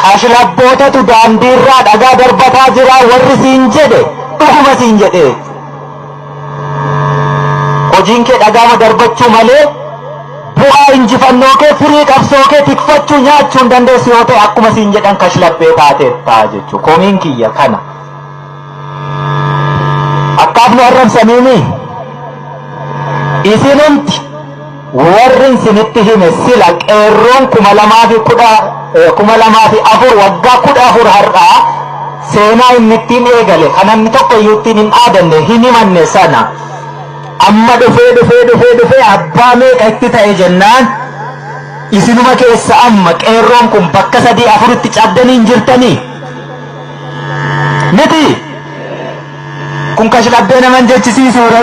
Kashlabbootatu daandiirraa dhagaa darbataa jira warri siin jedhe dhuguma siin jedhe. Hojiin kee dhagaama darbachuu malee bu'aa injifannoo kee firii qabsoo kee tikfachuu nyaachuu hin dandeessu yoo ta'e akkuma siin jedhan kashlabbee taateetta jechuudha. Komiin kiyya kana. akkaafni arrabsaniini isinumti warri isinitti hime sila qeerroon kuma lamaa fi kudha kuma lamaa fi afur waggaa kudha afur har'aa seenaa inni ittiin eegale kan namni tokko iyyuu ittiin hin dhaadanne hin himanne sana amma dhufee dhufee dhufee dhufee abbaa meeqa itti ta'e jennaan isinuma keessa amma qeerroon kun bakka sadii afuritti cabdanii hin jirtanii miti kun kashlabbee naman jechisiisuure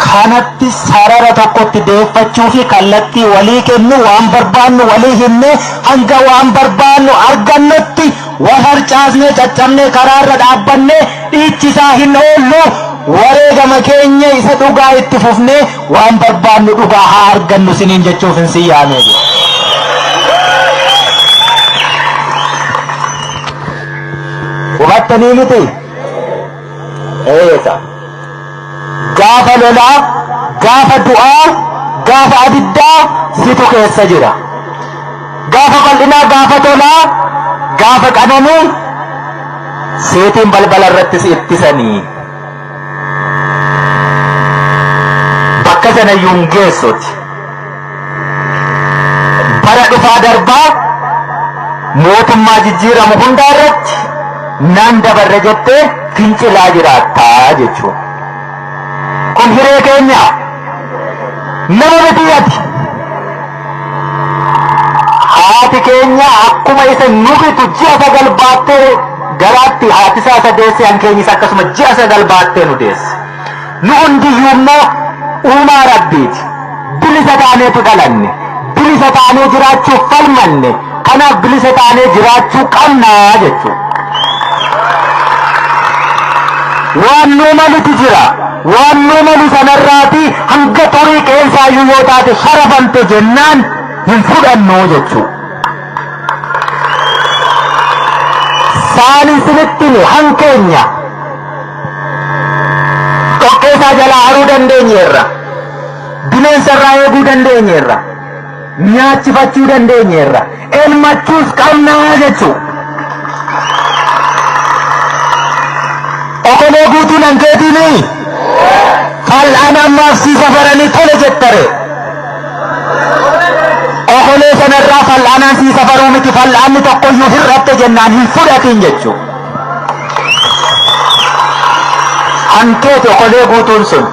kanatti sarara tokkotti deeffachuu fi kallattii walii kennu waan barbaannu walii himne hanga waan barbaannu argannutti wal harcaasnee caccabnee karaarra dhaabbanne dhiichisaa hin oollu wareegama keenya isa dhugaa itti fufnee Waan barbaannu dhugaa haa argannu siniin jechuuf hin sin yaamee jira. Hubattanii miti? Eega. Gaafa lolaa, gaafa du'aa, gaafa abiddaa situ keessa jira. Gaafa bal'inaa, gaafa tolaa, gaafa qananii seetiin balbala irratti si ittisanii. bakka sana iyyuu hin geessuti. Bara dhufaa darbaa mootummaa jijjiiramu hundaa irratti nan dabarre jettee fincilaa jiraattaa jechuudha. Kun hiree keenya nama miti ati. Haati keenya akkuma isa nufitu ji'a sagal baattee garaatti haati isaa isa deesse kan keenyis akkasuma ji'a sagal baattee nu deesse. Nu hundiyyuu immoo uumaa rabbiiti. Bilisa taaneetu dhalanne. Bilisa taanee jiraachuuf falmanne. Kanaaf bilisa taanee jiraachuu qabna jechuudha. Waan nuu malutu jira. Waan nuu malu sanarraati hanga xurii qeensaayyuu yoo taate sharafamte jennaan hin fudhannu jechuudha. Saan isinitti hime hankeenya dhoqqeesaa jalaa haruu dandeenyeerra. Bineensarraa eeguu dandeenyeerra. nyaachifachuu dandeenyeerra. Elmachuus qabna jechuu. Okolee guutuu nan keetiinii fal'aan ammaaf sii safaranii tole jettare. Okolee sanarraa fal'aanaan sii safaruu miti fal'aanni tokkoyyuu hir'atte jennaan hin fudhatiin jechuu. Hankeeti okolee guutuun sun.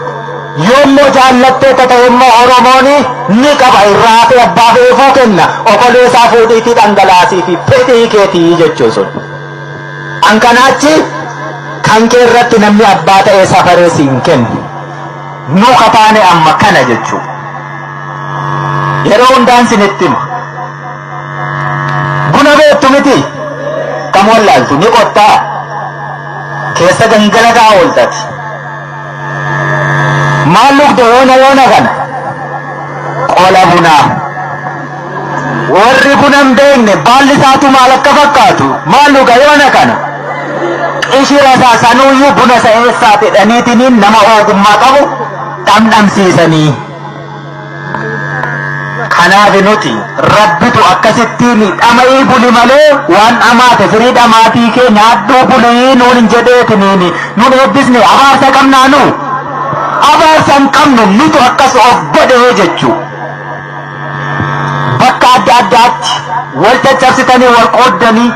Yoommoo jaallattee tataemmoo Oromooni ni qaba irraa hafee abbaaf eefuu kenna oboleesaa fuudhiitii dhangalaasiifi fedhii keetii jechuu sun. An kana achi kan kee irratti namni abbaa ta'ee safaree siin kennu. Nu kataane amma kana jechuu. Yeroo hundaan sinitti hima. Buna beektu miti kam wallaaltu ni qottaa keessa gangalata ooltati. Maal dhugde yoona yoona kana? Qola bunaa. Warri buna hin beekne baalli isaatu maal akka fakkaatu maal dhuga yoona kana? Qishira isaa sanuuyyuu buna isa eessaati dhaniitiniin nama ogummaa qabu dhamdhamsiisanii. Kanaaf nuti rabbitu akkasittiin dhama'ii buli malee waan dhamaate firii dhamaatii kee nyaadhuu bulii nuun hin jedheetiniin nun eebbisne abaarsa qabnaa nu abaarsa hin qabnu nutu akkas of godhee jechuu bakka adda addaatti wal caccabsitanii wal qooddanii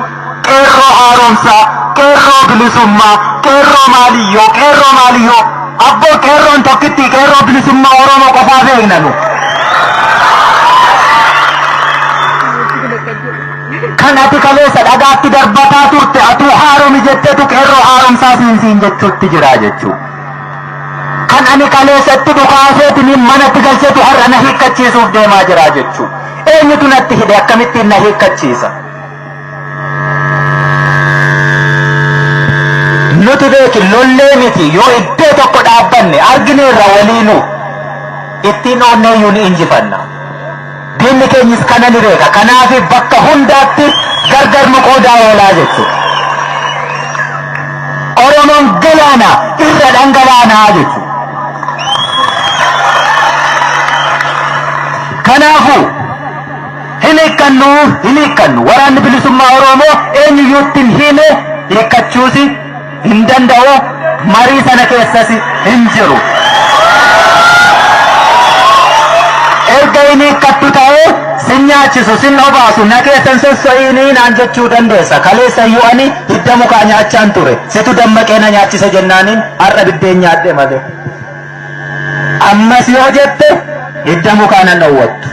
Qeerroo haaromsaa, qeerroo bilisummaa, qeerroo maaliyyoo, qeerroo maaliyyoo. Abboo qeerroon tokkitti qeerroo bilisummaa Oromoo qofaa beekna nu. Kan ati kaleessa dhagaatti darbataa turte atuu haaromi jettetu qeerroo haaromsaa siin siin jechuutti jira jechuu. Kan ani kaleessatti dhukaaseetiniin manatti galchetu har'a na hiikkachiisuuf deemaa jira jechuu. Eenyutu natti hidhe akkamittiin na hiikkachiisa? nuti beeki lollee miti yoo iddoo tokko dhaabbanne argineerra waliinuu ittiin oonneeyyuu ni injifanna. Diinni keenyis kana ni beeka. Kanaaf bakka hundaatti gargar nu qoodaa oolaa jechuudha. Oromoon galaana irra dhangalaanaa jechuudha. Kanaafuu Hin hiikkannu! Hin hiikkannu! Waraanni Bilisummaa Oromoo eenyuyyuutti hin hiime, hiikkachuusi hin danda'u, marii sana keessasi hin jiru. Erga hin hiikkattu ta'ee sin nyaachisu, sin obaasu, na keessa hin sosso'iinii naan jechuu dandeessa. Kaleessa iyyuu ani hidda mukaa nyaachaan ture. Situ dammaqee na nyaachise jennaaniin har'a biddeen nyaadhe malee. Ammas yoo jette hidda mukaa nan dhowwattu.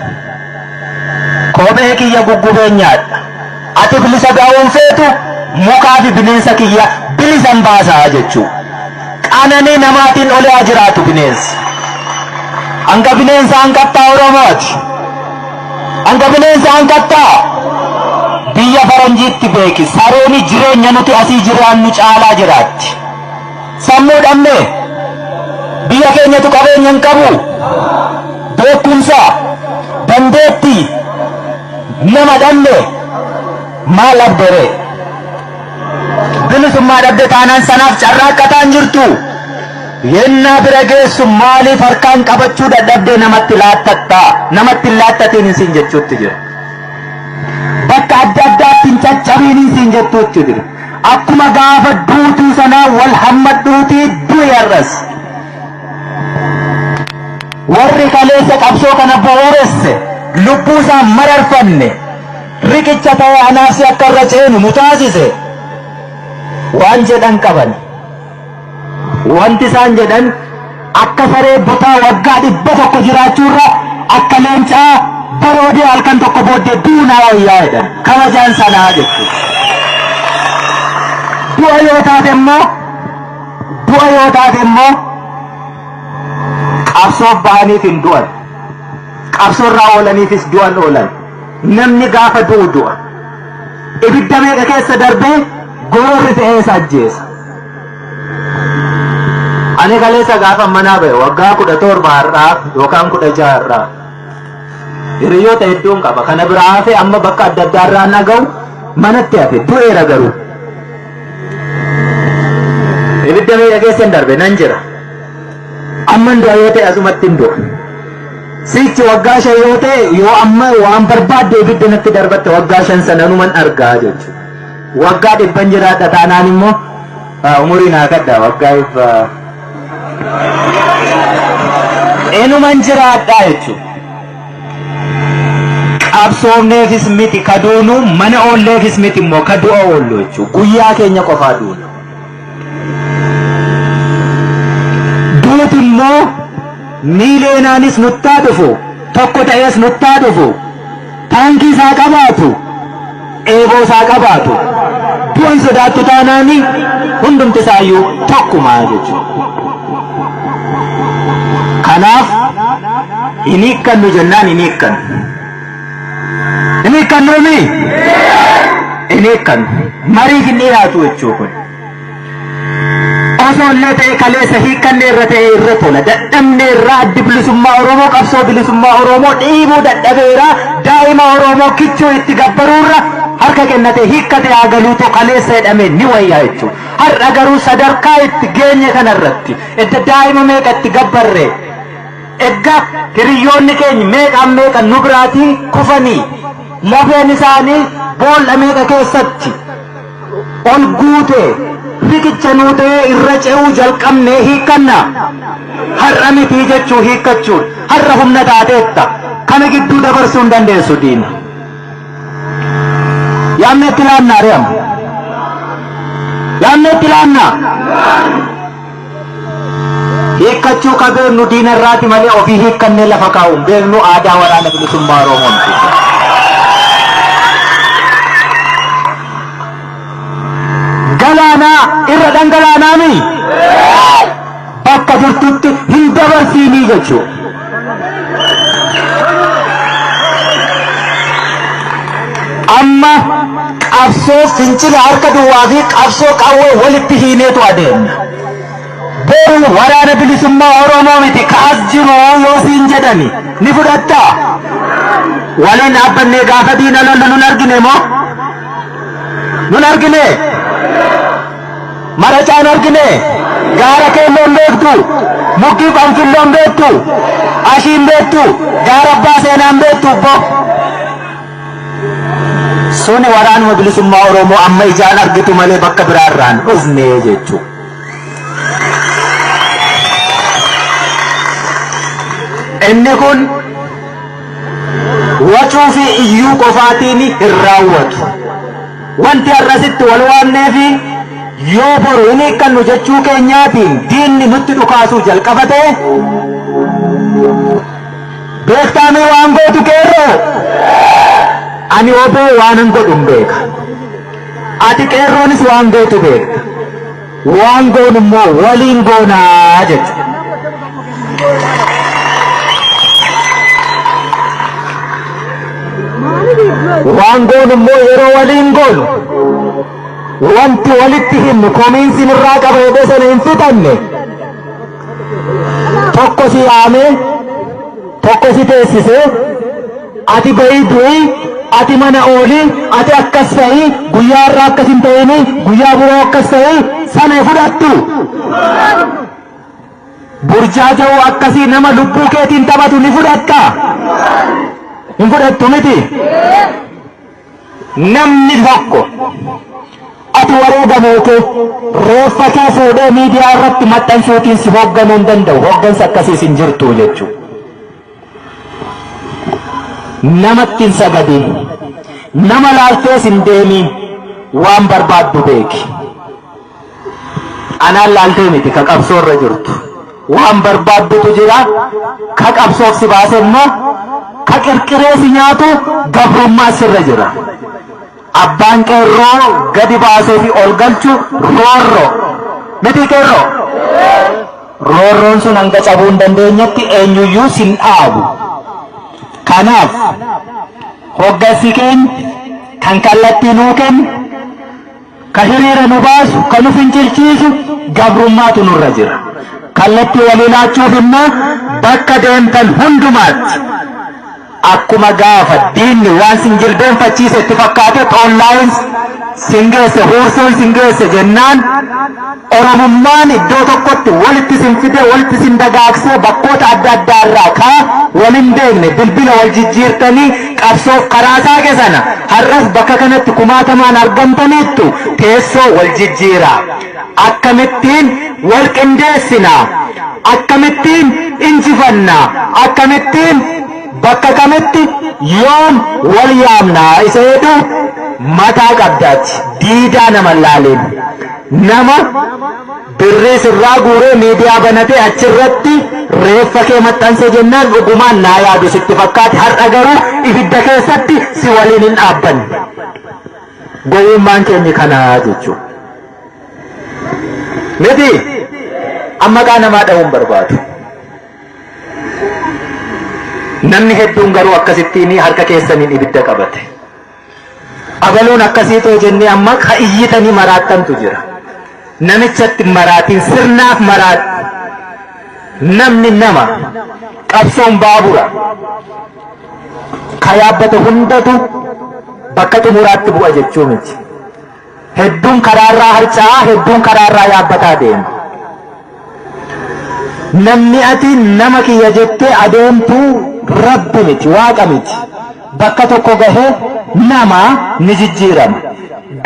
Kophee kiyya guggubeen nyaadha. Ati bilisa ba'uu hin feetu, mukaa fi bineensa kiyya bilisan baasa jechuu. Qananii namaatiin oli haa jiraatu bineensi. Hanga bineensa hanqattaa Oromooti. Hanga bineensa hanqattaa biyya faranjiitti beeki. Sarooni jireenya nuti asii jiraannu caalaa jiraatti. Sammuu dhabne. Biyya keenyatu qabeenya hin qabu. Beekumsa, dandeettii nama dhabne maal dhabdere? Bilisummaa dhabde taanaan sanaaf carraaqqataa hin jirtu. Yennaa bira geessu maaliif harkaan qabachuu dadhabdee namatti laattatta? Namatti hin laattatiin isin jechuutti jira. Bakka adda addaatti hin caccabiin isin jettuutti jira. Akkuma gaafa duutuu sanaa wal hammadhuutii du'i har'as. Warri kaleessa qabsoo kana bu'uuresse lubbuu isaa mararfanne riqicha ta'ee anaafsi akka irra ceenu nu taasise waan jedhan qaban. Wanti isaan jedhan akka saree butaa waggaa dhibba tokko jiraachuurra akka leencaa baroodee halkan tokko booddee du'u naa wayyaa jedhan. Kabajaan sanaa jechuudha. Du'a yoo taate immoo du'a yoo taate immoo qabsoof bahaniif hin du'an. Qabsoorraa oolaniifis du'an oolan. Namni gaafa du'u du'a. ibidda meeqa keessa darbee gororri ta'ee isa ajjeesa. Ani kaleessa gaafa manaa ba'e waggaa kudha torba har'aa yookaan kudha jaha har'aa. Hiriyoota hedduun qaba. Kana biraa hafe amma bakka adda addaa irraa naga'u manatti hafe du'eera garuu. Ibidda meeqa keessa hin darbe nan jira. Amman du'a yoo ta'e asumattin du'a. Sichi waggaa shan yoo ta'e yoo amma waan barbaadde ibidda natti darbatte waggaa shan sana anuman argaa jechuudha. Waggaa dhibban jiraadha taanaan immoo ah, umuriin haa kadhaa waggaa dhibba enuman jiraadhaa jechuudha. Qabsoofneefis miti kaduunu mana oolleefis miti immoo kadu'a oollu jechuudha. Guyyaa keenya qofaa duuna. duuti immoo miiliyoonaanis nuttaa dhufu tokko ta'ees nuttaa dhufu taankii isaa qabaatu eeboo isaa qabaatu du'an sodaattu taanaani hundumti isaayyuu tokkuma jechuudha. Kanaaf hin hiikkannu jennaan hin hiikkannu. Hin hiikkannuu mi? Hin hiikkannu. Mariif hin dhiyaatu jechuu kun. Osoo illee ta'e kaleessa hiikkannee irra ta'e irra tola. Dadhabnee irraa addi bilisummaa Oromoo qabsoo bilisummaa Oromoo dhiibuu dadhabeera. Daa'ima Oromoo kichuu itti gabbaruurra harka kennatee hiikkatee haa galuutu kaleessa jedhamee ni wayyaa jechuudha. Har'a garuu sadarkaa itti geenye kanarratti edda daa'ima meeqa itti gabbarree Egga hiriyyoonni keeny meeqaan meeqa nu biraatii kufanii lafeen isaanii bool'a meeqa keessatti ol guute riqicha nuu ta'ee irra ce'uu jalqabnee hiikkanna har'a mitii jechuu hiikkachuun har'a humna taateetta kana gidduu dabarsuu hin dandeessu diina. Yaamni itti laannaa re'ama. Yaamni itti laannaa. Hiikkachuu ka beeknu diina irraati malee ofii hiikkannee lafa kaa'u hin beeknu aadaa waraana bilisummaa Oromoon. Galaanaa irra dhangalaanaami bakka jirtutti hin dabarsiinii jechuudha. Amma qabsoo fincila harka duwwaa fi qabsoo qawwee walitti hiineetu adeemna. Boru waraana bilisummaa Oromoo miti kaas jiru yoo siin jedhani ni fudhattaa? Waliin dhaabbannee gaafa diina lollu nun argine moo? Nun argine? Maracaan argine gaara keelloon beektu mukki qonfilloon beektu ashiin beektu gaara abbaa seenaan beektu obbo suni waraanuma bilisummaa oromoo amma ijaan argitu malee bakka biraa irraan dhufne jechuu inni kun wacuu fi iyyuu qofaatiin hin raawwatu. Wanti har'a asitti wal waamneefi yoo boru hin hiikkannu jechuu keenyaatiin diinni nutti dhukaasuu jalqaba ta'e beektaamii waan gootu qeerroo ani oboo waanan godhun beeka ati qeerroonis waan gootu beekta Waan goonu immoo waliin goonaa jechuudha. Waan goonu immoo yeroo waliin goonu wanti walitti himnu komiinsi nurraa qaba jedhee sana hin fixanne tokko si yaame tokko si teessise ati ba'ii du'i ati mana ooli ati akkas ta'i guyyaa irraa akkas hin ta'ini guyyaa biroo akkas ta'i sana fudhattu burjaaja'u akkasii nama lubbuu keetiin taphatu ni fudhatta hin fudhattu miti Namni tokko ati wareega moote reeffa kee fuudhee miidiyaa irratti maxxansuutiin si hoogganuu hin danda'u. Hooggansa akkasiis hin jirtu jechuudha. Namatti hin sagadin. Nama laaltees hin deemiin. Waan barbaaddu beeki. Anaan laaltee miti ka qabsoo irra jirtu. Waan barbaaddutu jira. Ka qabsoof si baase immoo ka qirqiree si nyaatu gabrummaa sirra jira. Abbaan qeerroo gadi baasee fi ol galchu roorro. Miti qeerroo? Roorroon sun hanga cabuu hin dandeenyetti eenyuyyuu sin dhaabu. Kanaaf hoggansi keenya kan kallattii nuu kennu Ka hiriira nu baasu, ka nu fincilchiisu gabrummaatu nurra jira. Kallattii walii laachuuf immoo bakka deemtan hundumaatti akkuma gaafa diinni waan sin jilbeenfachiise itti fakkaate online sin geesse huursuun sin geesse jennaan Oromummaan iddoo tokkotti walitti isin fidee, walitti isin dagaagsee bakkoota adda addaa irraa ka wal hin beekne bilbila wal jijjiirtanii qabsoof karaa saaqe sana har'as bakka kanatti kumaatamaan argamtaniittu teessoo wal jijjiiraa. Akkamittiin wal qindeessina? Akkamittiin injifanna? Akkamittiin bakka kamitti yoom wal yaamna isa jedhu mataa qabdaati. Diidaa nama hin laaliin. Nama birrii sirraa guuree miidiyaa banatee achirratti reeffa kee maxxanse jennaan dhugumaan naa yaadu sitti fakkaate har'a garuu ibidda keessatti si waliin hin dhaabbanne. Gowwummaan keenya kanaa jechuudha. Miti amma maqaa namaa dha'uun barbaadu. Namni hedduun garuu akkasittiin harka keessaniin ibidda qabate. Abaluun akkasii too jennee amma ka iyyitanii maraattantu jira. Namichatti hin maraatin sirnaaf maraadhu. Namni nama. Qabsoon baabura. Ka yaabbate hundatu bakka xumuraatti bu'a jechuu miti. Hedduun karaarraa harca'aa, hedduun karaarraa yaabbataa deema. Namni ati nama kiyya jettee adeemtu rabbi miti, waaqa miti. Bakka tokko gahee nama ni jijjiirama.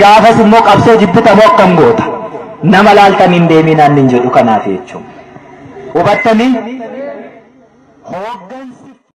Gaafas immoo qabsoo jibbita moo akkam goota? Nama laaltanii hin deeminaan nin jedhu kanaaf jechuudha. Hubattanii? Hooggansi.